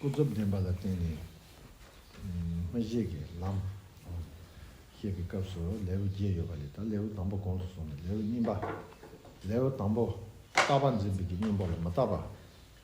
ཀུན་རྫོབ་བདེན་པ་ལ་བརྟེན་ནས་སྨྲ་བྱེད་ཀྱི་ལམ། ཞེས་པའི་སྐབས་སུ་ལེའུ་བརྒྱད་ཡོད་པ་ལས་ད་ལེའུ་དང་པོ་གོང་དུ་སོང་ནས་ལེའུ་གཉིས་པ། ལེའུ་དང་པོ། བརྟགས་པ་འཛིན་པའི་གཉེན་པོ་ལ་མ་བརྟགས་པ།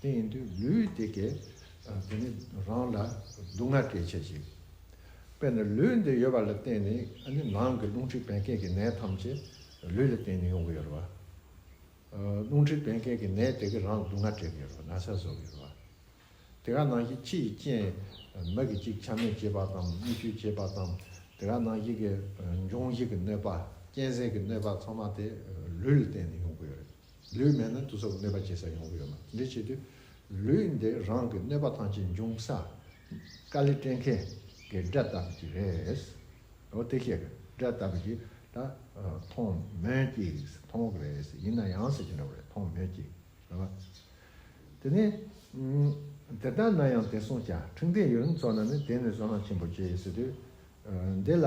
དེ་ཡིན་དུས་ལུས་དེ་གས། དེ་ནི་རང་ལ་སྡུག་བསྔལ་སྐྱེད་བྱེད་ཅིང། དཔེར་ན་ལུས་འདི་ཡོད་པ་ལ་བརྟེན་ནས་ནི་ནང་གི་རླུང་མཁྲིས་བད་ཀན་གྱི་ནད་ཐམས་ཅད་ལུས་ལ་བརྟེན་ནས་ཡོང་གི་ཡོད་རེད་བ། རླུང་མཁྲིས་བད་ཀན་གྱི་ནད་དེ་གས་རང་ལ་སྡུག་བསྔལ་སྤྲད་ཀྱི་ཡོད་རེད་བ་ན་ཚ་བཟོ་གི་ཡོད་རེད་བ། དེ་ག་ནང་བཞིན་ཕྱི་ཡི་རྐྱེན། མི་གི་ཅིག་ཆ་མེད་བྱེད་པ་དང་སྨིག་སྐྱུར་བྱེད་པ་དང། དེ་ག་ནང་བཞིན་གྱི་འབྱུང་བཞི་གི་གནོད་པ། རྐྱེན་ཟས་ཀྱི་གནོད་པ་ཚང་མ་དེ་ལུས་ལ་བརྟེན་ནས་ཡོང་གི་ཡོད་རེད། ལུས་མེད་ན་དུས་རབས་གནོད་པ་སྐྱེལ་ས་ཡོང་གི་ཡོད་མ་འདི་བྱེད་དུས་ལུས་འདི་རང་གི་གནོད་པ་ཐམས་ཅད་འབྱུང་ས་དཀའ་ལས་སྤྲད་མཁན་གི་དགྲ་ལྟ་བུ་ཅིག་རེད། འོ་དེ་ཤེས་གི་དགྲ་ལྟ་བུ་ཞིག་ད་མཐོང་མོད་ཀྱི་མཐོང་གི་རེད་ཡིན་ན་ཡང་ཟེར་གྱི་འདྲ་བོ་རེད་མཐོང་མོད་ཀྱི་རེད་བ། དེ་ནས་དེ་ལྟ་ན་ཡང་དེ་སྲུང་བྱ་ཁྲིམས་ལྡན་ཡུལ་ལུང་ཚོ་ན་ནི་དེ་ནི་བཟོད་སྣང་ཆེན་པོ་སྐྱེ་ཟེར་དུས་འདི་ལ།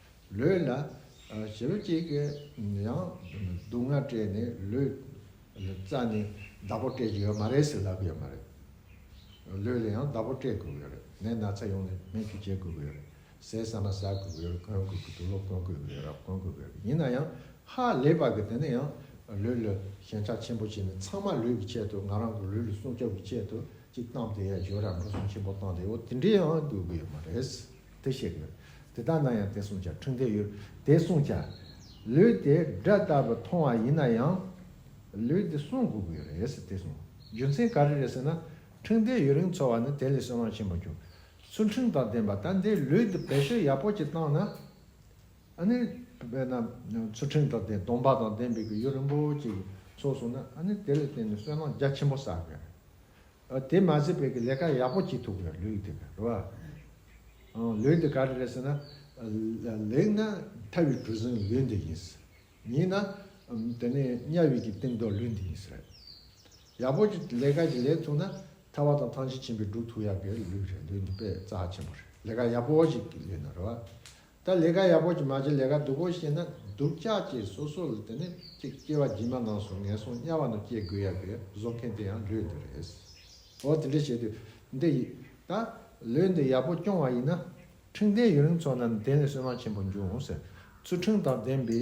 ལུས་ལ་ཞི་བ་གཅིག་གིས་ཡང་སྡུག་བསྔལ་སྤྲད་ནས་ལུས་ལ་རྩ་ནས་བདག་པོ་སྤྲད་ཀྱི་ཡོད་མ་རེད་ཟེར་ལབ་ཀྱི་ཡོད་མ་རེད། ལུས་ལ་ཡང་བདག་པོ་སྤྲད་དགོས་ཀྱི་ཡོད་རེད་ནད་ན་ཚ་ཡོང་ནས་སྨན་བཅོས་བྱེད་དགོས་ཀྱི་ཡོད་རེད། ཟས་ཟ་མ་ཟ་དགོས་ཀྱི་ཡོད་རེད་གོན་དགོས་ཀྱི་འདུག་ལོ་གོན་དགོས་ཀྱི་ཡོད་རེད་གོན་དགོས་ཀྱི་ཡོད་རེད་ཡིན་ན་ཡང་ཧ་ལས་པ་གི་དེ་ནི་ཡང་ལུས་ལ་ཞེན་ཆགས་ཆེན་པོ་བྱས་ནས་ཚང་མ་ལུས་ཀྱི་ཆེད་དུ་ང་རང་གི་ལུས་ལ་སྲུང་སྐྱོབ་ཀྱི་ཆེད་དུ་ཅིག་བཏང་སྟེ་ཡ་ཞོ་ར་འབྲུ་སྲུང་ཆེན་པོ་བཏང་སྟེ་འོ་དེ་འདྲའི་ཡང་དགོས་ཀྱི་ཡོད་མ་རེད། དེ་བཤད་དགོས། དེ་ལྟར་ན་ཡང་དེ་སྲུང་བྱ་འཁྲུངས་འདས་ཡོད་དེ་སྲུང་བྱ། ལུས་དེ་སྒྲ་ལྟ་བུར་མཐོང་བ་ཡིན་ན་ཡང། ལུས་དེ་སྲུང་དགོས་ཀྱི་ཡོད་རེད་དེ་སྲུང། རྒྱུ་མཚན་ག་རེ་རེད་ཟེར་ན། འཁྲུངས་འདས་ཡུན་རིང་འཚོ་བ་ནི་དེ་ལས་སྲོལ་ལམ་ཆེན་པོ་གྱུར། སུ་འཁྲུངས་དང་བདེན་པ་ད་འདི་ལུས་འདི་བེད་སྤྱོད་ཡག་པོ་གྱིས་བཏང་ན། ཨ་ནི། དཔེར་ན། སུ་འཁྲུངས་དང་བདེན་སྟོང་པ་དང་བདེན་པའི་གི་ཡུན་རིང་པོ་གྱིས་འཚོ་སོང་ན་ཨ་ནི་དེ་ལས་བརྟེན་ནས་སྲོལ་ལམ་རྒྱ་ཆེན་པོ་བསགས་དགོས་རེད། དེ་མ་ཟད་བོད་ཀྱི་ལས་ཀ་ཡག་པོ་བྱེད་ཐུབ་དགོས་ལུས་འདི་ག་རེ་བ། ལུས་འདི་ག་རེ་རེད་ཟེར་ན། ལེགས་ན་མཐའ་བའི་གྲུ་གཟིངས་ལུས་འདི་ཡིན། ཉིས་ན། དེ་ནས་དམྱལ་བའི་གྱི་སྟེང་རྡོ་ལུས་འདི་ཡིན་ཟེར། ཡག་པོ་གྱི་ལས་ཀ་གྱི་ལས་ཐུག་ན་ཐར་བ་དང་ཐང་ཆེན་ཆེན་པོའི་འགྲུབ་ཐུག་ཡག་གི་ལུས་རེད་ལུས་འདི་དཔེ་རྩ་ཆེན་པོ་རེད་ལས་ཀ་ཡག་པོ་ཞིག་གི་ལུས་ན་རེ་བ། ད་ལས་ཀ་ཡག་པོ་ཅིག་མ་བྱེད་ལས་ཀ་སྡུག་པོ་བྱེད་ན་སྡུག་ཅག་ཅེས་སོ་སོ་ལ་དེ་ནི་ཅིག་སྐྱེ་བ་རྗེས་མ་ནང་སོང་ངན་སོང་དམྱལ་བ་ནང་སྐྱེ་དགོས་ཡ་པའི་བཟོ་མཁན་དེ་ཡང་ལུས་འདི་རེད། འོ་དེ་འདྲ་བྱས་དུས་འདི་ཡིས་ད་ལུས་འདི་ཡག་པོ་སྐྱོང་བ་ཡིན་ན་འཕྲིན་ལྡན་ཡུན་རིང་འཚོ་ན་གདན་ལས་སོན་མ་ཆེན་པོ་འབྱུང་ཟེར་ཚུལ་འཕྲིན་དང་ལྡན་པའི།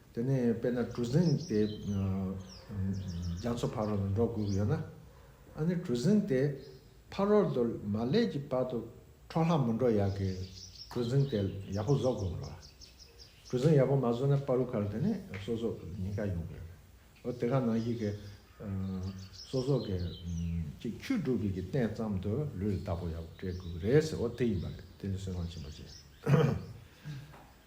དེ་ནས་དཔེར་ན་གྲུ་གཟིངས་དེ་རྒྱ་མཚོ་ཕ་རོལ་ལ་འགྲོ་དགོས་ཀྱི་ཡོད་ན། ཨ་ནི་གྲུ་གཟིངས་དེ་ཕ་རོལ་དུ་མ་སླེབས་ཀྱི་བར་དུ་འཕྲོ་ལྷག་མི་འགྲོ་ཡག་གི་གྲུ་གཟིངས་དེ་ཡག་པོ་བཟོ་དགོས་རོགས། གྲུ་གཟིངས་ཡག་པོ་མ་བཟོས་ན་པ་རུ་ཁར་དེ་ནས་སོ་སོ་ཉེན་ཁ་ཡོང་གི་རེད། འོ་དེ་ག་ནང་བཞིན་གྱི་སོ་སོ་གི་གཅིག་ཁྱུ་སྒྲུབ་པའི་གི་སྟེང་ཙམ་དུ་ལུས་རྟག་པོ་ཡག་པོ་སྤྲད་དགོས་ཀྱི་རེད་ཟེར་འོ་དེ་ཡིན་པ་རེད་དེ་ནི་སེམས་ཁམས་ཆེན་པོ་བྱེད།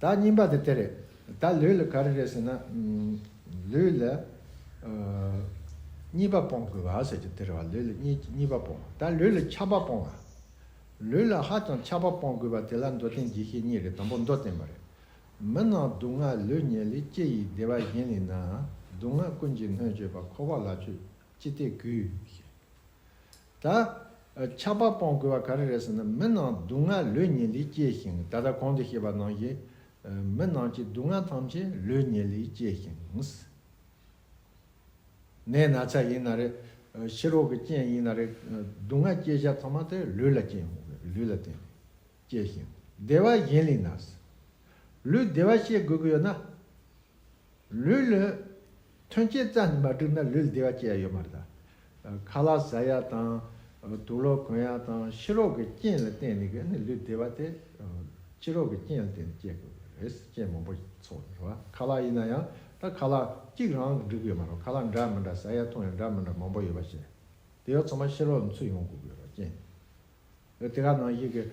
བདག་སྙིང་པ་དེ་དེར་བདག་ལུས་ལ་ག་རེ་རེད་ཟེར་ན། ལུས་ལ་གཉིས་པ་སྤོང་དགོས་བ་ཟེར་གྱི་དེར་བ་ལུས་ལ་གཉིས་པ་སྤོང་བ་དང་ལུས་ལ་ཆགས་པ་སྤོང་བ། ལུས་ལ་ཧ་ཅང་ཆགས་པ་སྤོང་དགོས་བ་དེ་ལ་མདོ་བསྟན་གྱི་ཤེས་གཉིས་རེད་དང་པོ་མདོ་བསྟན་མ་རེད། མི་སྣང་སྡུག་བསྔལ་ལུས་ཉེ་ལེགས་སྐྱེ་ཡི་བདེ་བ་གཞན་ལས་ནའང་སྡུག་བསྔལ་ཀུན་གྱི་སྣོད་སྤྱོད་པ་འཁོར་བ་ལ་ཆོས་ཅི་སྟེ་གུས། ད། ཆགས་པ་སྤོང་དགོས་པ་ག་རེ་རེད་ཟེར་ན་མི་ནང་སྡུག་བསྔལ་ལུས་ཉིད་ལས་སྐྱེས་ཤིང་ད་ལྟ་གོང་དུ་བཤད་པ་ནང་བཞིན། མི་ནང་གི་སྡུག་བསྔལ་ཐམས་ཅད་ལུས་ཉིད་ལས་སྐྱེས་ཤིང། ནད་ན་ཚ་ཡིན་ན་རེད། ཕྱི་རོལ་གྱི་རྐྱེན་ཡིན་ན་རེད། སྡུག་བསྔལ་སྐྱེ་བྱ་ཚང་མ་དེ་ལུས་ལ་བརྟེན་ལུས་ལ་བརྟེན་ནས་སྐྱེས་ཤིང་བདེ་བ་གཞན་ལས་ན། ལུས་བདེ་བ་ཤེས་དགོས་ཀྱི་ཡོད་ན། ལུས་ལོན། ཐོན་སྐྱེད་རྩ་ནས་མ་བསྒྲུབས་ན་ལུས་ལ་བདེ་བ་སྐྱེ་ཡ་ཡོད་མ་རེད། ཁ་ལག་ཟ་ཡ་དང། དུག་ལོག་གོན་ཡ་དང་ཕྱི་རོལ་གྱི་རྐྱེན་ལ་བརྟེན་ནས་ཀྱི་ནི་ལུས་བདེ་བ་དེ། ཕྱི་རོལ་གྱི་རྐྱེན་ལ་བརྟེན་ནས་སྐྱེ་དགོས་པ་རེད། རྐྱེན་མང་པོ་ཚོགས་ཡོད་པ་ཁ་ལག་ཡིན་ན་ཡང་ད་ཁ་ལག་གཅིག་རང་གིས་འགྲིག་གི་ཡོད་མ་རེད་ཁ་ལག་འདྲ་མི་འདྲ་ཟ་ཡ་འཐུང་ཡ་འདྲ་མི་འདྲ་མང་པོ་ཡོད་པ་བྱས་ཡོད་དེ་ཚང་མ་ཕྱི་རོལ་ལ་འཚུད་ཡོང་དགོས་ཀྱི་ཡོད་པ་རྐྱེན་ཡོད་དེ་ག་ནང་བཞིན་གྱི་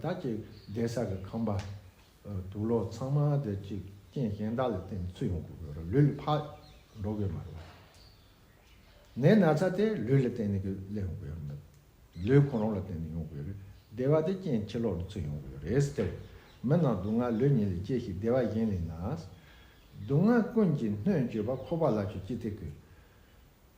ད་ཅིག་བདེ་གསར་གྱི་ཁང་པ། དུག་ལོག་ཚང་མ་དེ་གཅིག་རྐྱེན་གཞན་དག་ལས་བརྟེན་ནས་ཚུད་ཡོང་དགོས་པས་རུ་ལུས་ཕར་འགྲོ་དགོས་མ་རེད། ནད་ན་ཚ་དེ་ལུས་ལ་བརྟེན་ནས་སླེབས་ཡོང་དགོས་ཡོད་མོད། ལུས་གོང་རོང་ལ་བརྟེན་ནས་ཡོང་དགོས་རིགས་སྡེ་བ་དེ་རྐྱེན་ཕྱི་ལོག་ནས་ཚུད་ཡོང་དགོས་རེད་ཟེར་ཏེ། མི་རྣམས་སྡུག་བསྔལ་ལུས་ཉིད་ལས་སྐྱེས་ཤིང་སྡེ་བ་གཞན་ལས་ན། སྡུག་བསྔལ་ཀུན་གྱི་སྣོད་བཅུད་པ་ཁོ་པ་ལ་ཆུ་སྐྱེས་ཐིག་གི།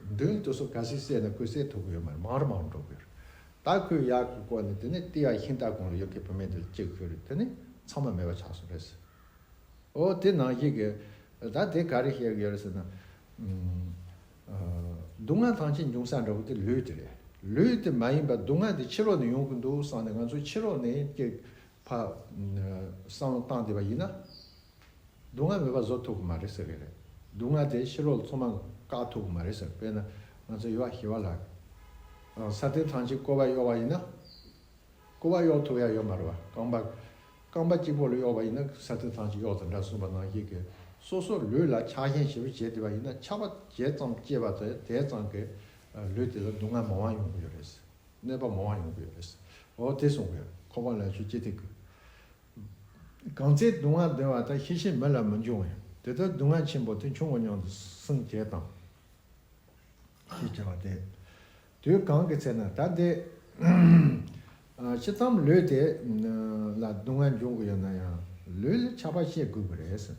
མདུན་དུ་སོ་ག་ཞིག་བསད་ནས་ཁོའི་སྲས་ཐུགས་ཡོད་མེད་མང་རུ་མང་རུ་འགྲོ་གི་ཡོད་རེད་ད་ཁོས་ཡག་གི་སྐོར་ནས་དེ་ནས་ཏི་ཡ་ཤིན་ཏཱ་གང་རུ་ཡོད་མཁན་བུད་མེད་འདི་ལ་ཅིག་ཤོད་རེད་དེ་ནས་ཚང་མ་མེད་པ་ཆགས་སོང་རེད་ཟེར། ཨོ་དེ་ནང་བཞིན་གི་ད་དེ་ག་རེ་བཤད་གི་ཡོད་རེད་ཟེར་ན། སྡུག་བསྔལ་ཐང་ཆེན་འབྱུང་ས་འདྲ་བོ་དེ་ལུས་དེ་རེད་ལུས་དེ་མ་ཡིན་པ་སྡུག་བསྔལ་དེ་ཕྱི་རོལ་ནས་ཡོང་གི་འདུག་བསམ་ནས་ང་ཚོ་ཕྱི་རོལ་ནས་ཀྱི་བསམ་བློ་བཏང་བསྡད་པ་ཡིན་ན། སྡུག་བསྔལ་མེད་པ་བཟོ་ཐུབ་ཀྱི་མ་རེད་ཟེར་གྱི་རེད། སྡུག་བསྔལ་དེ་ཕྱི་ལོག་ལ་ཚོང་མ་བཀག་ཐུབ་ཀྱི་མ་རེད་ཟེར་དཔེར་ན་ང་ཚོ་ཡོ་བ་ཞི་བ་ལགས། ས་སྟེང་ཐང་ཅིག་ཀོ་བ་གཡོག་བ་ཡིན་ན། ཀོ་བ་གཡོག་ཐུབ་ཡ་ཡོད་མ་རེད་བ། རྐང་པ། རྐང་པ་གཅིག་པོ་ལ་གཡོག་བ་ཡིན་ན་ས་སྟེང་ཐང་ཅིག་གཡོག་དང་འདྲ་གསུངས་པ་ནང་བཞིན་གྱི་སོ་སོ་ལུས་ལ་ཆགས་ཞེན་ཞེ་པོ་བྱེད་དེ་བ་ཡིན་ན་ཆགས་པ་ཇེ་ཙམ་སྐྱེས་པ་དེ་དེ་ཙམ་གྱི་ལུས་དེ་ལ་སྡུག་བསྔལ་མང་བ་ཡོང་གི་ཡོད་རེད། གནོད་པ་མང་བ་ཡོང་གི་ཡོད་རེད། འོ་དེ་གསུངས་གི་ཡོད་ཁོ་པ་ལ་ཆོས་ཅི་སྟེ་གུས། གང་ཚེ་སྡུག་བསྔལ་འདོན་བ་དག་ཤེས་བྱའི་མི་ལ་མི་འབྱུང་བས་དེ་ལྟར་སྡུག་བསྔལ་ཆེན་པོ་དེ་འབྱུང་བ་ཉུང་དུ་སོང་བྱས་དང། ཞེས་བྱ་བ་སྟེ། དུས་གང་གི་ཚེ་ན་ད་དེ། ཅི་ཙམ་ལུས་དེ་ལ་སྡུག་བསྔལ་འབྱུང་གི་ཡོད་ན་ཡང་ལུས་ལ་ཆགས་པ་ཤེས་དགོས་ཀྱི་རེད།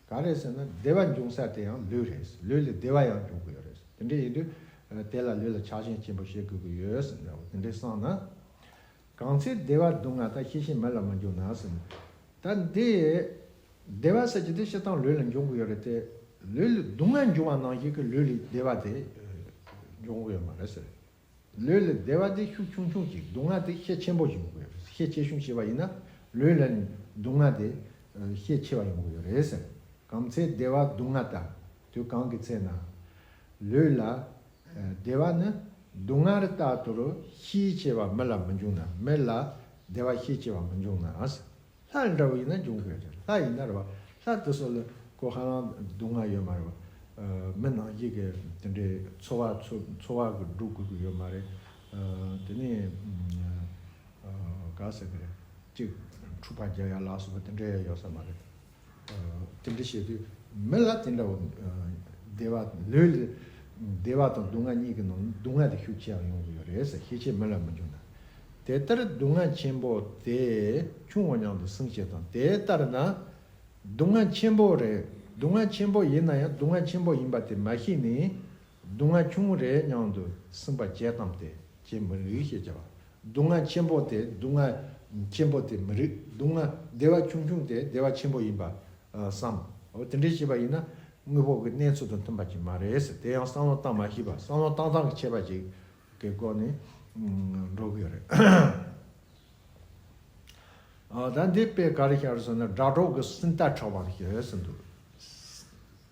ག་རེ་ཟེར་ན་བདེ་བ་འབྱུང་ས་དེ་ཡང་ལུས་རེད། ལུས་ལ་བདེ་བ་ཡང་འབྱུང་གི་ཡོད་རེད། དེ་འདྲ་ཡིན་དུས་དེ་ལ་ལུས་ལ་ཆགས་ཞེན་ཆེན་པོ་ཤེས་དགོས་ཀྱི་ཡོད། དེ་འདྲ་སངས་ན། གང་ཚེ་བདེ་བ་སྡུག་བསྔལ་དག་ཤེས་ཤིང་མེད་ལ་མ་འགྱུར་ན་ཟིན། ད་འདི། བདེ་བ་ཟེར་གྱི་དེ་ཤི་དང་ལུས་ལ་འབྱུང་གི་ཡོད་རེད་དེ། ལུས་ལ་སྡུག་བསྔལ་འབྱུང་བ་ནང་བཞིན་གྱི་ལུས་ལ་བདེ་བ་དེ། འབྱུང་གི་ཡོད་མ་རེད་ཟེར། ལུས་ལ་བདེ་བ་དེ་ཤུགས་ཆུང་ཆུང་ཅིག་སྡུག་བསྔལ་དེ་ཤས་ཆེན་པོ་ཞིག་ཡོང་གི་ཡོད་རེད་ཤས་ཆེ་ཆུང་ཞེས་པ་ཡིན་ན། ལུས་ལ་སྡུག་བསྔལ་དེ། ཤས་ཆེ་བ་ཡོང་གི་ཡོད་རེད་ཟེར། གང་ཚེ་བདེ་བ་སྡུག་བསྔལ་དག་དུས་གང་གི་ཚེ་ན། ལུས་ལ། བདེ་བ་ནི་སྡུག་བསྔལ་རྟག་ཏུ་ཤེས་བྱེད་པ་མི་ལ་མི་འབྱུང་ན་མི་ལ་བདེ་བ་ཤེས་བྱེད་པ་མི་འབྱུང་ནའང། ལྷ་འདྲ་བོ་ཡིན་ན་འབྱུང་གི་རེད་ལྷ་ཡིན་ན་རེད་བ་ལྷ་དེ་ཚོ་ལ་གོ་ཧ་ལམ་སྡུག་བསྔལ་ཡོད་མ་རེད་བ། མི་ནང་བཞིན་གྱི་དེ་འདྲའི་འཚོ་བ་འཚོ་བ་གི་འགྲོ་དགོས་ཀྱི་ཡོད་མ་རེད། དེ་ནས་ག་ཟེར་གི་རེད་གཅིག་འཁྲུག་པ་རྒྱག་ཡ་ལགས་སོགས་པ་དེ་འདྲ་ཡ་ཡོད་ས་མ་རེད། དེ་འདྲ་བྱེད་དུས་མི་ལ་དེ་འདྲ་བ་བདེ་བ་ལུས་ལ་བདེ་བ་དང་སྡུག་བསྔལ་གཉིས་ཀྱི་ནང་སྡུག་བསྔལ་དེ་ཤུགས་ཆེ་ཡང་ཡོང་གི་ཡོད་རེད་ཟེར་ཤེས་ཆེད་མི་ལ་མི་འཇོན་ན། དེ་ལྟར་སྡུག་བསྔལ་ཆེན་པོ་དེ་ཆུང་བ་ཉང་དུ་སྲུང་བྱེད་དང་དེ་ལྟར་ན་སྡུག་བསྔལ་ཆེན་པོ་རེད་སྡུག་བསྔལ་ཆེན་པོ་ཡིན་ན་ཡང་སྡུག་བསྔལ་ཆེན་པོ་ཡིན་པ་དེ་མ་ཤེས་ནས་སྡུག་བསྔལ་ཆུང་ངུ་རེའི་སྙིང་དུ་སིམ་པ་བརྒྱད་ཙམ་དེ་ཇི་མི་རིགས་ཞེས་བྱ་བ། སྡུག་བསྔལ་ཆེན་པོ་དེ་སྡུག་བསྔལ་ཆེན་པོ་དེ་མི་རིགས་སྡུག་བསྔལ་བདེ་བ་ཆུང་ཆུང་དེ་བདེ་བ་ཆེན་པོ་ཡིན་པར་བསམ། འོ་དེ་འདྲའི་ཤེས་པ་ཡིན་ན་དངོས་པོ་གི་གནས་ཚུལ་དང་མཐུན་པ་ཅིག་མ་རེད་ཟེར་དེ་ཡང་བསམ་བློ་བཏང་མ་ཤེས་པར་བསམ་བློ་བཏང་སྟངས་ཀྱི་ཆད་པ་ཅིག་གི་སྒོ་ནས་འགྲོ་གི་ཡོད་རེད། ད་འདི་དཔེ་ག་རེ་ཤར་ཟེར་ན་དགྲ་གྲོགས་ཀྱི་སིམ་ལྟ་ཕྲ་བ་ཞིག་ཟེར་འདུག།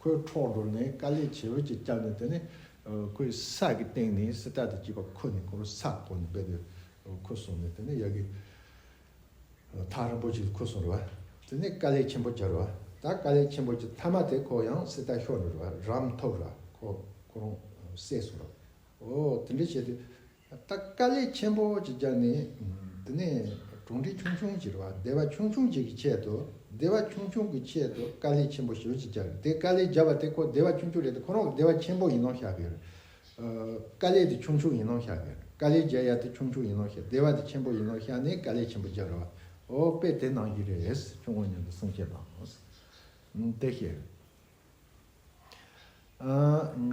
ཁོའི་འཕྲོག་འགྲོ་ནི་དཀའ་ལས་ཆེ་བོ་ཅིག་བསྐྱངས་ནས་དེ་ནི་ཁོའི་ས་གི་སྟེང་ནས་སི་ཏྲ་དེ་སྐྱིད་པ་ཁོ་ནི་ཁོ་རུ་ས་བསྐོར་ནས་སྦས་པས་ཁོ་སོང་ནས་དེ་ནི་ཡ་གི་ཐག་རིང་པོ་ཅིག་ལ་ཁོ་སོང་རུ་བ་དེ་ནི་དཀའ་ལས་ཆེན་པོ་བྱ་རུ་བ་ད་དཀའ་ལས་ཆེན་པོ་ཅིག་མཐའ་མ་དེ་ཁོ་ཡང་སི་ཏྲ་ཤོར་ནས་རུ་བ་རམ་འཐོབ་རུ་བ་ཁོ་ཁོ་རང་བསད་སོང་རུ་བ་འོ་དེ་འདྲ་བྱས་ཏེ། ད་དཀའ་ལས་ཆེན་པོ་གཅིག་རྒྱག་ནི། འདི་ནས་གྲོང་སྡེ་ཆུང་ཆུང་གཅིག་རེད་བ་སྡེ་བ་ཆུང་ཆུང་གཅིག་གི་ཆེད་དུ་སྡེ་བ་ཆུང་ཆུང་གི་ཆེད་དུ་དཀའ་ལས་ཆེན་པོ་ཞེ་བོ་གཅིག་རྒྱག་དེ་དཀའ་ལས་རྒྱག་བ་དེ་ཁོ་སྡེ་བ་ཆུང་ཆུང་རེད་དེ་ཁོ་རང་གི་སྡེ་བ་ཆེན་པོ་ཡིན་ནོ་ཤག་གི། དཀའ་ལས་དེ་ཆུང་ཆུང་ཡིན་ནོ་ཤག་གི་དཀའ་ལས་རྒྱག་ཡ་དེ་ཆུང་ཆུང་ཡིན་ནོ་ཤག་སྡེ་བ་དེ་ཆེན་པོ་ཡིན་ནོ་ཤག་ནི་དཀའ་ལས་ཆེན་པོ་རྒྱག་རེད་བ་ཨོ་དཔེ་དེ་ནང་བཞིན་རེད་ཆུང་ངུ་ཉུང་དུ་སྲུང་བྱེད་དང། དེ་བཞིན།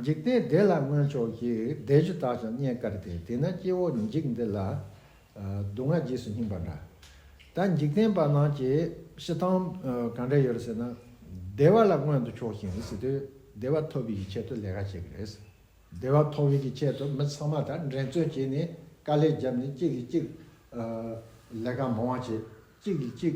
འཇིག་རྟེན་བདེ་ལ་མངོན་ཕྱོགས་ཀྱི་བདེ་བཅུ་དག་ཀྱང་རྙེད་དཀའ་སྟེ་དེས་ན་སྐྱེ་བོ་འཇིག་འདི་ལ་སྡུག་བསྔལ་རྗེས་སུ་སྙིང་པ་འདྲ། ད་འཇིག་རྟེན་པ་རྣམས་ཀྱི་ཤི་སྟངས་གང་འདྲ་ཡོད་རེད་ཟེར་ན། བདེ་བ་ལ་མངོན་དུ་ཕྱོགས་ཤིང་སྲིད་དུས་བདེ་བ་ཐོབ་ཡུལ་གྱི་ཆེད་དུ་ལས་ཀ་བྱེད་ཀྱི་རེད། བདེ་བ་ཐོབ་ཡུལ་གྱི་ཆེད་དུ་མི་ཚང་མ་དང་འགྲན་རྩོད་བྱས་ནས་དཀའ་ལས་བརྒྱབ་ནས་གཅིག་གིས་གཅིག་ལས་ཀ་མང་བ་བྱེད་གཅིག་གིས་གཅིག་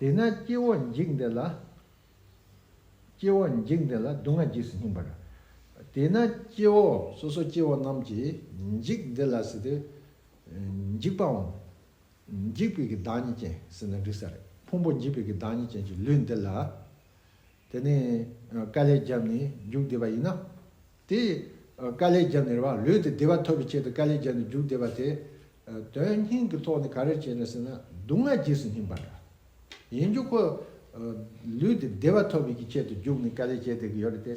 དེས་ན་སྐྱེ་བོ་འཇིག་འདི་ལ། སྐྱེ་བོ་འཇིག་འདི་ལ་སྡུག་བསྔལ་རྗེས་སུ་སྙིང་པར། དེས་ན་སྐྱེ་བོ་སོ་སོ་སྐྱེ་བོ་རྣམས་ཀྱི་འཇིག་འདི་ལ་ཟེར་ཏེ། འཇིག་པའམ། འཇིག་པའི་གི་བདག་ཉིད་ཅན་ཟེར་ན་འགྲིག་ས་རེད་ཕུང་པོ་འཇིག་པའི་གི་བདག་ཉིད་ཅན་གྱི་ལུས་འདི་ལ། དེ་ནས་བཀའ་ལས་རྒྱབ་ནས་རྒྱུགས་བསྡད་པ་ཡིན་ན། དེ་བཀའ་ལས་རྒྱབ་ནས་རེ་བ་ལོས་ཏེ་བདེ་བ་ཐོབ་པའི་ཆེད་དུ་བཀའ་ལས་རྒྱབ་ནས་རྒྱུགས་བསྡད་པ་དེ། དོན་སྙིང་གི་ཐོག་ནས་ག་རེ་བྱས་ནས་ཟེར་ན་སྡུག་བསྔལ་རྗེས་སུ་སྙིང་པ་འདྲ། ཡིན་རྒྱུ་ཁོ། ལུས་དེ་བདེ་བ་ཐོབ་པའི་ཆེད་དུ་རྒྱུགས་ནས་བཀའ་ལས་བྱས་བསྡད་ཀྱི་ཡོད་རེད་དེ།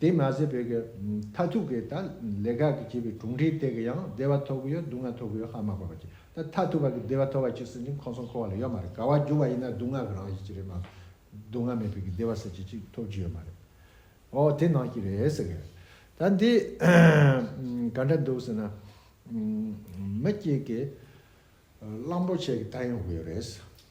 དེ་མ་ཟད་བོད་ཀྱི་མཐའ་ཐུག་གི་ད་ལས་ཁག་གི་བྱིས་པའི་གྲུང་འབྲེལ་སྟེགས་ཀྱི་ཡང་བདེ་བ་ཐོབ་ཀྱི་ཡོད་སྡུག་བསྔལ་ཐོབ་ཀྱི་ཡོད་ཧ་མ་གོ་བ་ཅིག་ད་མཐའ་ཐུག་བར་གྱི་བདེ་བ་ཐོབ་བ་ཅིག་ཟེར་གྱིན་ཁོང་སོང་ཁོ་བ་ལ་ཡོད་མ་རེད་ག་བ་འགྱུར་བ་ཡིན་ན་སྡུག་བསྔལ་གྱི་རང་བཞིན་ཅིག་རེད་མ་སྡུག་བསྔལ་མེད་པའི་གྱི་བདེ་བ་ཟེར་བྱེད་ཅིག་ཐོབ་ཀྱི་ཡོད་མ་རེད་ཨོ་དེ་ནང་བཞིན་རེད་ཟེར་གི་ད་འདི་ག་འདྲ་འདུག་ཟེར་ན་མི་གཅིག་གིས་གླང་པོ་ཆེ་གི་ད་ཡོང་གི་ཡོད་རེད།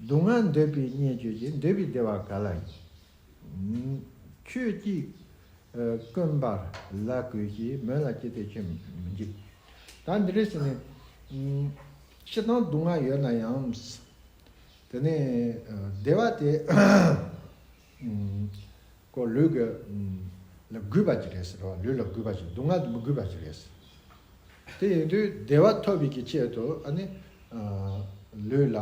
སྡུག་བསྔལ་འདོད་པས་བསྙེན་བསྐྱོད་ཀྱི་འདོད་པའི་བདེ་བ་ག་ལ་ཡིན། ཁྱོད་ཀྱིས་དཀོན་པར་ལ་དགོས་ཞེས་མོས་ལ་ཅི་སྟེ་ཁྱོད་མི་འཇིགས། ད་འདི་རེས་ནི། ཤི་དང་སྡུག་བསྔལ་ཡོད་ན་ཡང། དེ་ནས་བདེ་བ་དེ། ཀོ། ལུས་ཀྱི། ལ་གུས་པ་གྱིས་རེད། ལུས་ལ་གུས་པ་གྱིས་སྡུག་བསྔལ་དུ་མི་གུས་པ་གྱིས་རེད། དེ་ཡིན་དུས་བདེ་བ་ཐོབ་བས་ཀྱི་ཆེད་དུ་ཨ་ནི། ལུས་ལ།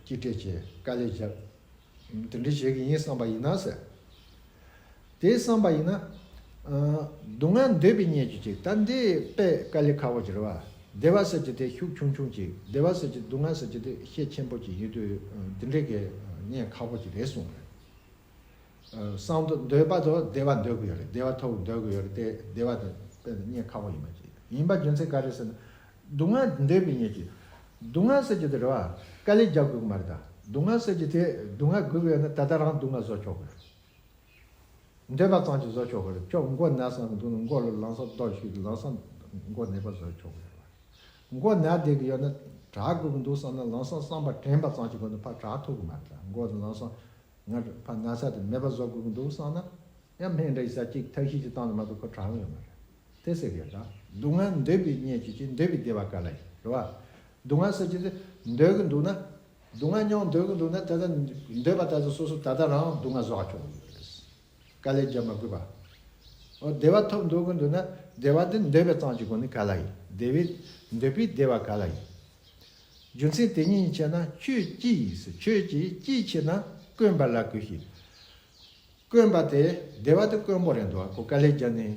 གཅིག་སྤྲད་ཀྱིས་དཀའ་ལས་བརྒྱབ། དེ་འདྲ་བྱེད་ཀྱི་ཡིན་བསམ་པ་ཡིན་ན་ཟེར། དེ་བསམ་པ་ཡིན་ན། སྡུག་བསྔལ་འདོད་པས་རྙེད་རྒྱུ་གཅིག་ད་འདི་པས་དཀའ་ལས་ཁ་བོ་གྱིས་རེད་བ། བདེ་བ་ཟེར་གྱི་དེ་ཤུགས་ཆུང་ཆུང་ཅིག་བདེ་བ་ཟེར་གྱི་སྡུག་བསྔལ་ཟེར་གྱི་དེ་ཤེད་ཆེན་པོ་ཅིག་ཡིན་དུས་འདི་འདྲའི་གཉེན་ཁ་བོ་ཅིག་རེ་ཟུང་རེད། སང་དུ་འདོད་པ་དུ་བདེ་བ་འདོད་གི་ཡོད་རེད་བདེ་བ་ཐོབ་གི་འདོད་གི་ཡོད་རེད་དེ་བདེ་བ་དེ་དཔེ་ན་གཉེན་ཁ་བོ་ཡིན་པ་ཅིག་ཡིན་པ་རྒྱུ་མཚན་ག་རེ་ཟེར་ན་སྡུག་བསྔལ་འདོད་པའི་ཉེས་ཀྱིས་སྡུག་བསྔལ་ཟེར་གྱི་དེ་རེ་བ་དཀའ་ལས་རྒྱག་དགོས་གི་མ་རེད་ད་སྡུག་བསྔལ་ཟེར་གྱི་དེ་སྡུག་བསྔལ་དགོས་གི་ཡོད་ན་ད་ལྟ་རང་སྡུག་བསྔལ་བཟོ་ཆོག་གི་རེད། འདོད་པ་ཙམ་གྱིས་བཟོ་ཆོག་གི་རེད་ཅོག་མགོ་ནད་སམ་འདུག་ན་མགོ་ལ་ལང་ས་ཟློག་ཤིག་ལང་ས་མགོ་ནད་པ་བཟོ་ཆོག་གི་རེད་བ། མགོ་ནད་བསྡད་ཀྱི་ཡོད་ན་དྲག་དགོས་ཀྱི་འདུག་བསམ་ན་ལང་ས་སྲང་པ་དྲན་པ་ཙམ་གྱི་སྒོ་ནས་ཕར་དྲག་ཐུབ་གི་མ་རེད་ལ་མགོ་དང་ལང་ས་ང་ཕ་ན་ཚ་དེ་མེད་པ་བཟོ་དགོས་ཀྱི་འདུག་བསམ་ན་ཡང་སྨན་འདྲ་ཡི་ས་གཅིག་ཐབས་ཤེས་ཀྱི་སྟངས་ནས་མ་གཏོགས་ཕར་དྲག་གི་ཡོད་མ་རེད་དེ་སེ་གེ་ད། སྡུག་བསྔལ་འདོད་པས་རྙེད་ཀྱི་ཅི་འདོད་པས་བདེ་བ་ག་ལ་ཡིན་རེད་བ། སྡུག་བསྔལ་ཟེར་གྱི་འདོད་གི་འདུག་ན་སྡུག་བསྔལ་མྱོང་འདོད་ཀྱི་འདུག་ན་དེ་ལྟར་འདོད་པ་དག་གིས་སོ་སོ་ད་ལྟ་རང་སྡུག་བསྔལ་བཟོ་བར་གྱུར། དཀའ་ལས་རྒྱབ་མ་དགོས་པ། འོ་བདེ་བ་ཐོབ་འདོད་ཀྱི་འདུག་ན་བདེ་བ་འདི་འདོད་པའི་གཙང་གྱི་སྒོ་ནས་ག་ལ་ཡིན་བདེ་བའི་འདོད་པས་བདེ་བ་ག་ལ་ཡིན། རྒྱུ་མཚན་དེ་ཉིད་ཡིན་ཆད་ན་ཁྱོད་ཅི་ཡིན་ཟེར་ཁྱོད་ཀྱིས་ཅིའི་ཕྱིར་ན་དཀོན་པ་ལ་གུས་ཤིག། དཀོན་པ་དེ་བདེ་བ་དེ་དཀོན་པོ་རེད་འདུག་གོ་དཀའ་ལས་རྒྱབ་ནས་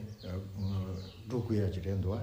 འགྲོ་དགོས་ཡ་གྱི་རེད་འདུག།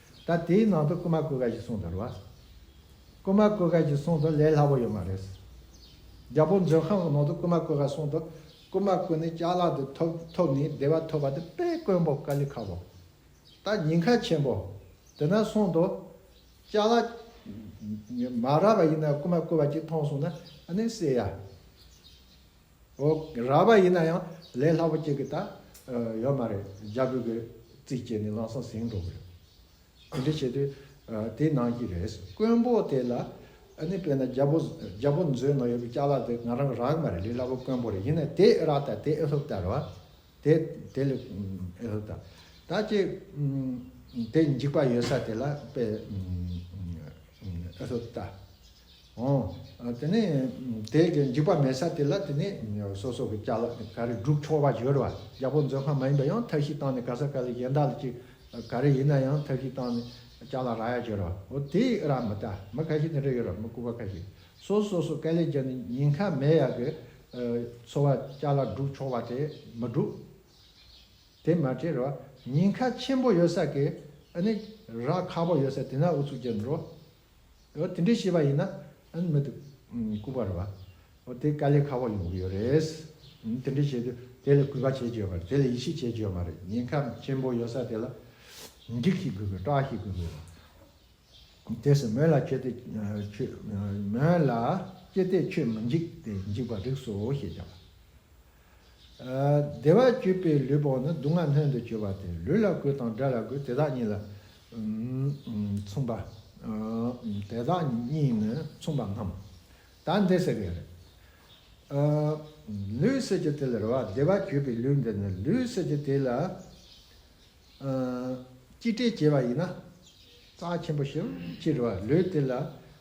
ད་དེའི་ནང་དུ་རྐུན་མ་བརྐུས་ཀ་ཞིག་གསུངས་འདུག་རོ། རྐུན་མ་བརྐུས་ཀ་ཞིག་གསུངས་འདུག་ལས་སླ་པོ་ཡོད་མ་རེད། རྒྱ་བོད་མཛོད་ཁང་གི་ནང་དུ་རྐུན་མ་བརྐུས་ཀ་གསུངས་འདུག་རྐུན་མ་བརྐུས་ནས་ལྕགས་ལག་དེ་ཐོབ་ཐོབ་ནས་བདེ་བ་ཐོབ་པ་དེ་དཔེ་དཀོན་པོ་ཀ་ལི་ཁ་བོ། ད་ཉིན་ཁ་ཆེན་པོ། དེ་ན་གསུངས་འདུག། ལྕགས་ལག། མ་ར་བ་ཡིན་ན་རྐུན་མ་བརྐུས་པ་ཅིག་མཐོང་སོང་ན་ཨ་ནི་སེ་ཡ། འོ། རགས་པ་ཡིན་ན་ཡང་ལས་སླ་པོ་སྐྱེ་གི་ད་ཡོད་མ་རེད་རྒྱ་བོད་ཀྱི་རྩིས་བཅད་ནི་ལམ་སང་ཟིན་འགྲོ་གི་རེད། དེ་འདྲ་བྱེད་དུས་དེ་གནང་གི་རེད། དཀོན་པོ་དེ་ལ་ནི་དཔེར་ན་རྒྱ་བོ་རྒྱ་བོ་མཛོད་ནང་ཡོད་པའི་སྐྱག་ལག་དེ་ང་རང་གི་རགས་མ་རེད་ལས་སླ་པོ་དཀོན་པོ་རེད་ཡིན་ན་དེ་ཨེ་རགས་ད་དེ་ཨེ་ལྷུབ་ད་རེད་བ། དེ་དེ་ལས་ཨེ་ལྷུབ་ད། ད་ཅི་དེ་འཇིགས་པ་ཡོད་ས་དེ་ལ་དཔེ་ཨེ་ལྷུབ་ད། དེ་ནས་དེ་གའི་འཇིགས་པ་མེད་ས་དེ་ལ་དེ་ནས་སོ་སོ་གི་བཅའ་ལ་ག་རེ་བསྒྲུབ་ཆོག་པ་བཞོར་བ་རྒྱལ་པོ་མཛོད་ཁང་མ་ཡིན་པ་ཡང་ཐབས་ཤེས་བཏང་ནས་ག་ས་ག་ལ་གཞན་དག་ལ་ཅིག་ག་རེ་ཡིན་ན་ཡང་ཐབས་ཤེས་བཏང་ནས་བཅའ་ལ་ར་ཡ་བཞོར་བ་འོ་དེ་ཡི་ར་མི་ད་མི་ཁ་ཤས་ནི་རེ་ཡོད་ར་མི་སྐུ་པ་ཁ་ཤས་སོ་སོ་སོ་སྐལ་ལས་ཀྱང་ནི་ཉིན་ཁ་མེད་ཡ་གི་འཚོ་བ་བཅའ་ལ་བསྒྲུབ་ཆོག་པ་དེ་མི་བསྒྲུབ། དེ་མ་བྱས་ར་ཉིན་ཁ་ཆེན་པོ་ཡོད་ས་གི་ཨ་ནི་ར་ཁ་པོ་ཡོད་ས་དེ་ན་ཨུ་ཚུགས་བྱེད་འགྲོ། འོ་དེ་འདྲའི་ཤེས་པ་ཡིན་ན་མི་འདུག་སྐུ་པར་བ། འོ་དེ་དཀའ་ལས་ཁག་པོ་ཡོང་གི་ཡོད་རེད། དེ་འདྲའི་བྱེད་དུས་དེ་ལ་གུས་པ་བྱེད་རྒྱུ་ཡོད་པ་རེད་དེ་ལ་ཡིད་ཆེས་བྱེད་རྒྱུ་ཡོད་མ་རེད་ཉེན་ཁ་ཆེན་པོ་ཡོད་ས་དེ་ལ་འགྲིག་ཤིག་དགོས་དགོས་སྐྲག་ཤིག་དགོས་དགོས་རེད། དེ་སྲིད་མོད་ལ་ཁྱོད་དེ་ཁྱོད་མོད་ལ་ཀྱེ་དེ་ཁྱོད་མི་འཇིགས་དེ་འཇིགས་པ་རིགས་སོ་ཞེས་བྱ་བ། བདེ་བ་སྤྱོད་པའི་ལུས་བོགས་ནི་སྡུག་བསྔལ་སྣོད་དུ་སྤྱོད་པ་སྟེ་ལུས་ལ་གོས་དང་སྒྲ་ལ་གོས་དེ་དག་གཉིས་ལ་མཚུངས་པ། དེ་དག་གཉིས་ནི་མཚུངས་པ་ངམ། ད་འདི་ཟེར་གི་རེད། ལུས་ཟེར་གྱི་དེ་ལ་རེ་བ་བདེ་བ་སྤྱོད་པའི་ལུས་འདི་ནི་ལུས་ཟེར་གྱི་དེ་ལ་གཅིག་སྒྲིལ་བྱས་པ་ཡིན་ན། རྩ་ཆེན་པོ་ཞིབ་ཀྱི་རེ་བ་ལུས་དེ་ལ་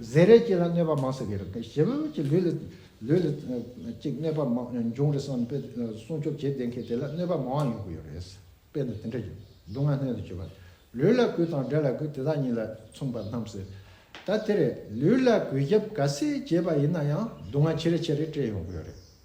གཟེར་རལ་གཅིག་ལ་གནོད་པ་མང་ཟེར་གི་རེད་ཞེ་བོད་ཀྱི་ལུས་ལ་ལུས་ལ་གཅིག་གནོད་པ་མང་འབྱུང་རེད་བསམ་པའི་སྲུང་སྐྱོབ་བྱེད་བསྡད་མཁན་དེ་ལ་གནོད་པ་མང་ཡོང་གི་ཡོད་རེད་དཔེ་ན་དེ་འདྲ་ཡོད་སྡུག་བསྔལ་སྣོད་དུ་གྱུར་པ་ལུས་ལ་གུས་དང་འདྲེ་ལ་གུས་དེ་དག་གཉིས་ལ་མཚུངས་པར་སྣང་ཟེར་ད་དེ་རེད་ལུས་ལ་གུས་རྒྱབ་ག་ཟེ་བྱས་པ་ཡིན་ན་ཡང་སྡུག་བསྔལ་ཆེ་རེ་ཆེ་རེ་སྤྲད་ཡོང་གི་ཡོད་རེད།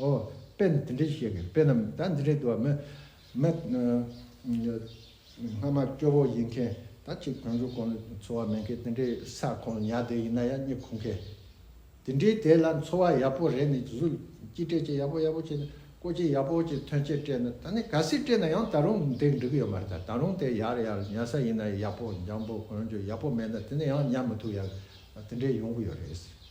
ཨོ། དཔེ་འདི་འདྲའི་བཤད་མཁན་དཔེ་རྣམས་ད་འདི་འདྲའི་དུ་བ་མེད། སྔ་མ་སྐྱོ་བོ་ཡིན་མཁན་ད་གཅིག་བོན་ཆོས་ཁོང་ལ་འཚོ་བ་མེད་མཁན་དེ་འདྲའི་ས་ཁོང་ཉག་དེ་ཡིན་ན་ཡང་རྙེད་ཁུག་མཁན། དེ་འདྲའི་དེ་ལ་འཚོ་བ་ཡག་པོ་རེད་ནི་ཇི་སུ་སྐྱིད་སྤྲད་ཅིག་ཡག་པོ་ཡག་པོ་བྱས་ནས་བཀོལ་ཅིག་ཡག་པོ་ཅིག་ཐོན་སྐྱེད་སྤྲད་ན་ད་ནི་ག་སྲིད་སྤྲད་ན་ཡང་ད་རུང་དེ་འགྲིག་གི་ཡོད་མ་རེད་ད་ད་རུང་དེ་ཡག་རེད་ཡག་རེད་ཉལ་ས་ཡིན་ན་ཡག་པོ་འཇམ་པོ་གོན་རྒྱུ་ཡག་པོ་མེད་ན་དེ་ནི་ཡང་ཉལ་མི་ཐུབ་ཡག་དེ་འདྲའི་ཡོང་གི་ཡོད་རེད།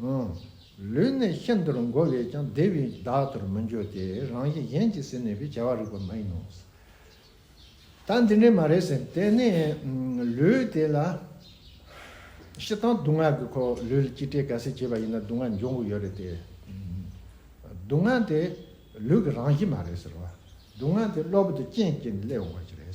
ལུས་ནི་ཤིན་ཏུར་འགོ་བས་ཀྱང་བདེ་བས་བདག་ལྟར་མི་འགྱུར་ཏེ་རང་བཞིན་གཞན་གྱིས་ཟིན་ནས་པའི་བྱ་བ་རིག་པ་མ་ཡིན་ནོ། ད་འདི་འདྲས་མ་རེད་ཟེར་དེ་ནི་ལུས་དེ་ལ་ཤི་སྟངས་སྡུག་བསྔལ་གྱི་ཁོག་ལུས་ལ་གཅིག་བྲལ་ག་ཟེ་བྱས་པ་ཡིན་ན་སྡུག་བསྔལ་འབྱུང་གི་ཡོད་རེད་དེ། སྡུག་བསྔལ་དེ་ལུས་ཀྱི་རང་བཞིན་མ་རེད་ཟེར་བ། སྡུག་བསྔལ་དེ་གློ་བུར་དུ་རྐྱེན་སྐྱེས་ནས་སླེབས་འོང་བ་ཞིག་རེད།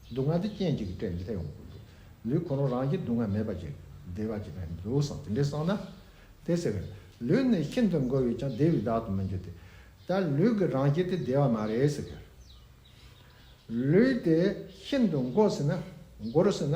སྡུག་བསྔལ་དེ་རྐྱེན་གཅིག་གིས་སྤྲད་མི་ཐེབས་ཡོང་གི་འདུག་ལུས་གང་རུང་རང་གིས་སྡུག་བསྔལ་མེད་པ་ཅིག་བདེ་བ་ཅིག་ཡང་འདུག་བསམ་དེ་འདྲས་སོང་ན། དེ་ཚེ་བས། ལུས་ནི་ཤིན་ཏུ་འགོར་བས་ཀྱང་བདེ་བའི་བདག་ཏུ་མི་འགྱུར་ཏེ། ད་ལུས་ཀྱི་རང་བཞིན་དེ་བདེ་བ་མ་རེད་ཟེར་གི། ལུས་དེ་ཤིན་ཏུ་འགོར་ཟིན་ན། འགོར་ཟིན་ན།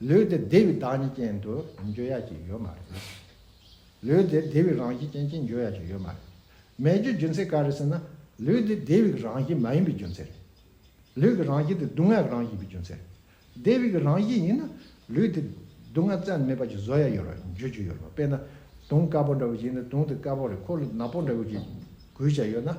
ལུས་འདི་བདེ་བའི་བདག་ཉིད་ཅན་དུ་འགྱུར་ཡ་གཅིག་ཡོད་མ་རེད། ལུས་འདི་བདེ་བའི་རང་བཞིན་ཅན་གཅིག་འགྱུར་ཡ་གཅིག་ཡོད་མ་རེད། མེད་རྒྱུའི་རྒྱུ་མཚན་ག་རེད་ཟེར་ན། ལུས་འདི་བདེ་བའི་རང་བཞིན་མ་ཡིན་པའི་རྒྱུ་མཚན་རེད། ལུས་ཀྱི་རང་བཞིན་དེ་སྡུག་བསྔལ་གྱི་རང་བཞིན་པའི་རྒྱུ་མཚན་རེད། བདེ་བའི་གི་རང་བཞིན་ཡིན་ན། ལུས་འདི་སྡུག་བསྔལ་བཙལ་ནས་མེད་པ་ཅིག་བཟོ་ཡ་ཡོད་ར་འགྱུར་རྒྱུ་ཡོད་རེད། དཔེར་ན། དུང་དཀར་པོ་འདྲ་བོ་ཞིག་ཡིན་ན་དུང་དེ་དཀར་པོ་རེད་ཁོ་ལ་ནག་པོ་འདྲ་བོ་ཅིག་གུས་བྱས་ཡོད་ན།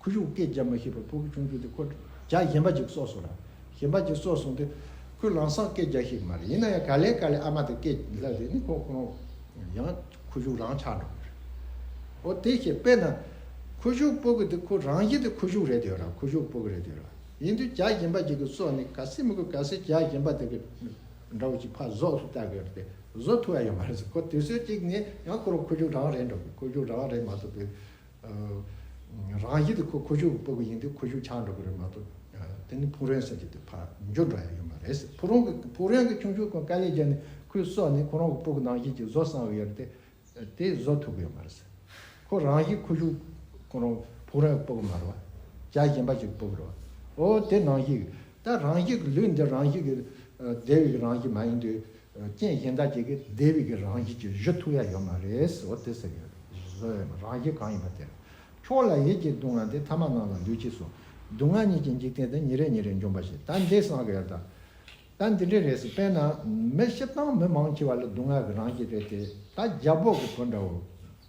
ཁུ་བྱུག་སྐད་རྒྱག་མ་ཤེས་པར་ཕུ་བོ་ཆུང་ཆུང་དེ་ཁོ་རྒྱག་གཞན་པ་ཅིག་གསོ་གསུངས་ལ། གཞན་པ་ཅིག་གསོ་གསུངས་ཏེ། ཁོས་ལང་སག་སྐད་རྒྱག་ཤེས་ཀྱི་མ་རེད་ཡིན་ན་ཡང་ག་ལེ་ག་ལེ་ཨ་མ་དང་སྐད་རྒྱག་ལ་རེ་ནི་ཁོ་ཁོ་རང། ཡང་ཁུ་བྱུག་རང་ཆགས་འགྲོ་གི་རེད། འོ་དེ་ཤེས་པས་ན། ཁུ་བྱུག་སྤོ་གི་དེ་ཁོ་རང་ཤེས་ཏེ་ཁུ་བྱུག་རེད་དེ་ར་ཁུ་བྱུག་སྤོ་གི་རེད་དེ་ར་ཡིན་དུས་རྒྱག་གཞན་པ་ཅིག་གིས་གསོ་ནི་ག་སེ་མི་དགོས་ག་སེ་རྒྱག་གཞན་པ་དེ་གི་འདྲ་བོ་ཅིག་ཕ་བཟོ་སུ་བལྟ་གི་རེད་དེ་བཟོ་ཐུབ་ཡ་ཡོད་མ་རེད་ཟེར་ཁོ་དུས་ཚོད་ཅིག་ནས་ཡང་ཁོ་རང་ཁུ་བྱུག་རང་རེད་འགྲོ་གི་ཁུ་བྱུག་རང་རེད་མ་ཐུབ་པས། རང་ཡིད་དུ་ཁོ་ཁོ་ཤུག་སྤོ་གི་ཡིན་དུས་ཁོ་ཤུག་ཆག་འགྲོ་གི་རེད་མ་གཏོགས་དེ་ནི་ཕུག་རོན་ཟེར་གྱི་དུས་ཕར་འགྱུར་འདྲ་ཡང་ཡོད་མ་རེད་ཟེར་ཕུག་རོན་ཕུག་རོན་གྱི་ཁྱུང་ཤུག་ཁོ་དཀའ་ལས་བརྒྱབ་ནས་ཁོའི་སྲོག་ནི་ཁོ་རང་གི་སྤོ་གི་ནང་བཞིན་གྱི་བཟོ་གསང་བའི་ཡོད་རེད་དེ་བཟོ་ཐུབ་གི་ཡོད་མ་རེད་ཟེར་ཁོ་རང་ཡིད་ཁོ་ཤུག་ཁོ་རང་ཕུག་རོན་སྤོ་གི་མ་རེད་བ་བྱ་གཞན་པ་ཞིག་སྤོ་གི་རེད་བ་ཨོ་དེ་ནང་བཞིན་གྱི་ད་རང་ཞིག་གི་ལུས་འདི་རང་ཞིག་གི་སྡེ་བའི་རང་ཞིག་མ་ཡིན་དུས་རྐྱེན་གཞན་དག་གིས་ཀྱི་སྡེ་བའི་ཀྱི་རང་བཞིན་གྱི་གཞི་ཐུག་ཡ་ཡོད་མ་རེད་ཟེར་བ་དེ་ཟེར་ཡོད་བཟོ་ཡོད་མ་རང་བཞིན་གང་ཡིན་པ་དེར་ཁྱོད་ལ་ཡིད་ཀྱི་སྡུག་བསྔལ་དེ་ཐ་མ་ནང་ལ་ལུས་ཀྱི་སོ་སྡུག་བསྔལ་གཉིས་ཀྱི་འཇིག་རྟེན་དེ་ཉིན་རེ་ཉིན་རེ་འཇོམས་པ་ཞིག་ད་འདི་སངས་རྒྱས་ད་ད་འདི་འདྲའི་རེད་ཟེར་དཔེར་ན་མི་ཤི་སྟངས་མི་མང་ཆེ་བ་ལ་སྡུག་བསྔལ་གྱི་རང་བཞིན་རེད་དེ་ད་རྒྱ་འབོག་གི་བུ་འདྲ་བོ་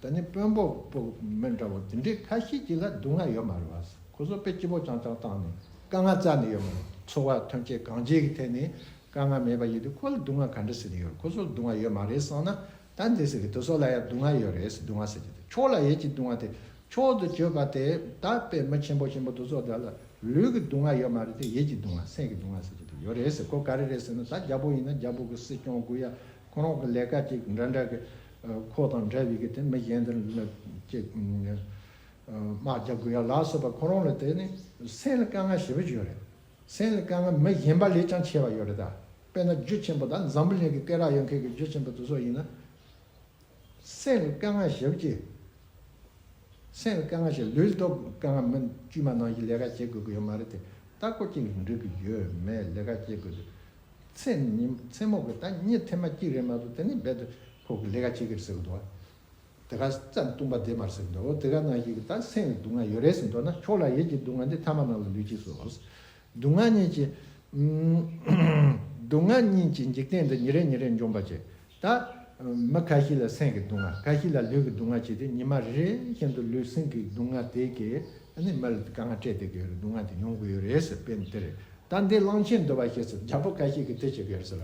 ད་ནི་དཔོན་འབོག་གི་བུ་མི་འདྲ་བོ་དེ་འདྲའི་ཁ་ཤས་ཀྱི་ལ་སྡུག་བསྔལ་ཡོད་མ་རེད་བ་ཟེར་ཁོ་ཚོ་དཔེ་སྐྱིད་པོ་རྐྱང་རྐྱང་བཏང་ནས་དཀའ་ངལ་རྩ་ནས་ཡོད་མ་རེད་འཚོ་བ་ཐོན་སྐྱེད་གང་བྱེད་ཀྱི་ཐད་ནས་དཀའ་ངལ་མེད་པ་ཡིན་དུས་ཁོ་ལ་སྡུག་བསྔལ་ག་འདྲ་ཟེར་གྱི་ཡོད་རེད་ཁོ་ཚོར་སྡུག་བསྔལ་ཡོད་མ་རེད་བསམ་ན་ད་འདི་ཟེར་གི་དུ་སོ་ལ་ཡང་སྡུག་བསྔལ་ཡོད་རེད་སྡུག་བསྔལ་ཟེར་གྱི་དུ་ཁྱོ་ལ་ཡོད་ཀྱི་སྡུག་བསྔལ་དེ་ཁྱོ་དུ་བཅོས་པ་དེ་ད་པད་མ་ཆེན་པོ་ཆེན་པོ་དུ་སོ་དེ་ལ་ལུས་ཀྱི་སྡུག་བསྔལ་ཡོད་མ་རེད་དེ་ཡིད་ཀྱི་སྡུག་བསྔལ་སེམས་ཀྱི་སྡུག་བསྔལ་ཟེར་གྱི་དུ་ཡོད་རེད་ཟེར་ཁོ་ག་རེ་རེད་ཟེར་ན་ད་རྒྱ་བོ་ཡིན་ན་རྒྱ་བོ་གི་སྲིད་སྐྱོང་དགུ་ཡ་ཁོ་རང་གི་ལས་ཀ་ཅིག་འདྲ་འདྲ་གི་ཁོ་དང་འདྲ་བའི་གི་དེ་མི་གཞན་དེ་ཅིག་དམག་རྒྱ་དགུ་ཡ་ལགས་སོ་པ་ཁོ་རང་ལ་དེ་ནི་སེམས་ལ་དཀའ་ངལ་ཞེ་པོ་ཅིག་ཡོད་རེད། སེམས་ལ་དཀའ་ངལ་མི་ཞན་པ་ལས་ཀྱང་ཆེ་བ་ཡོད་རེད་ད། དཔེར་ན་རྒྱུ་ཆེན་པོ་དང་འཛམ་བུ་གླིང་གི་སྐེ་རགས་ཡོད་མཁན་གྱི་རྒྱུ་ཆེན་པོ་དེ་ཚོ་ཡིན་ན། སེམས་ལ་དཀའ་ངལ་ཞིབ་ཀྱིས། སེམས་ལ་དཀའ་ངལ་ཞིག་ལུས་སྟོབས་དཀའ་ངལ་མིན་དཀྱུས་མ་ནང་བཞིན་ལས་ཀ་བྱེད་དགོས་ཀྱི་ཡོད་མ་རེད་དེ་ལྟ་སྐོར་གཅིག་ལ་འགྲིག་གི་ཡོད་མེད་ལས་ཀ་བྱེད་དགོས་དུས་ཚེས་ཉིན་ཚེས་མོག་གི་ད་གཉིས་ཐེངས་མ་གཅིག་རེད་མ་གཏོགས་དེ་ནས་རྦད་དེ་ཁོ་གི་ལས་ཀ་བྱེད་ཀྱི་རེད་ཟེར་གི་འདུག་དེ་ག་རྩ་བཏུང་པ་དེ་མར་ཟེར་འདོད་དེ་ག་ནང་བཞིན་གྱི་ད་སེམས་ཀྱི་སྡུག་བསྔལ་ཡོད་རེད་ཟེར་འདོད་ན་ཁྱོད་ལ་ཡིད་ཀྱི་སྡུག་བསྔལ་འདི་ཐ་མ་ནང་ལ་ལུས་ཀྱིས་སོ། སྡུག་བསྔལ་གཉིས་ཀྱི། སྡུག་བསྔལ་གཉིས་ཀྱི་འཇིག་རྟེན་འདི་ཉིན་རེ་ཉིན་རེ་འཇོམས་པར་བྱེད། ད། མི་ཁ་ཤས་ལ་སེམས་ཀྱི་སྡུག་བསྔལ་ཁ་ཤས་ལ་ལུས་ཀྱི་སྡུག་བསྔལ་བྱས་ཏེ་ཉི་མ་རེ་རེ་བཞིན་དུ་ལུས་སེམས་ཀྱི་སྡུག་བསྔལ་དེ་གས་ནས་མི་ལ་དཀའ་ངལ་སྤྲད་བསྡད་ཀྱི་ཡོད་རེད་སྡུག་བསྔལ་དེ་མྱོང་གི་ཡོད་རེད་ཟེར་དཔེ་འདི་རེད། ད་འདི་གླང་ཆེན་འདུལ་བ་ཞེས་སོ་རྒྱལ་པོ་བཀའ་བཞེས་ཀྱིས་དེ་བྱེད་ཀྱི་ཡོད་རེད་ཟེར།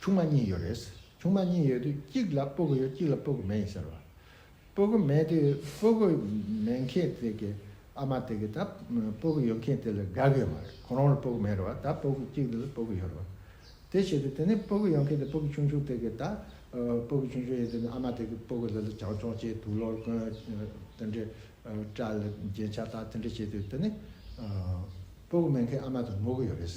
ཆུང་མ་གཉིས་ཡོད་རེད། ཆུང་མ་གཉིས་ཡོད་དུས་གཅིག་ལ་སྤོ་གོ་ཡོད་གཅིག་ལ་སྤོ་གོ་མེད་ཟེར་བ། སྤོ་གོ་མེད་དུས་སྤོ་གོ་མེད་མཁན་དེ་གི་ཨ་མ་དེ་གི་ད་སྤོ་གོ་ཡོད་མཁན་དེ་ལ་དགའ་གི་ཡོད་མ་རེད་ཁོང་རང་ལ་སྤོ་གོ་མེད་རེད་བ་ད་སྤོ་གོ་གཅིག་དེ་ལ་སྤོ་གོ་ཡོད་རེད་བ། དེ་བྱེད་དུས་དེ་ནས་སྤོ་གོ་ཡོད་མཁན་དེ་སྤོ་གོ་ཆུང་ཆུང་དེ་གི་ད་སྤོ་གོ་ཆུང་ཆུང་ཡོད་དུས་ཨ་མ་དེ་གི་སྤོ་གོ་ལ་ལ་བྱང་ཆུང་བྱེད་དུ་ལོར་གོན་དེ་འདྲའི་སྐྲ་ལ་རྒྱན་ཆ་དག་དེ་འདྲ་བྱེད་དུས་དེ་ནས་སྤོ་གོ་མེད་མཁན་ཨ་མ་དེ་ངུ་གི་ཡོད་རེད།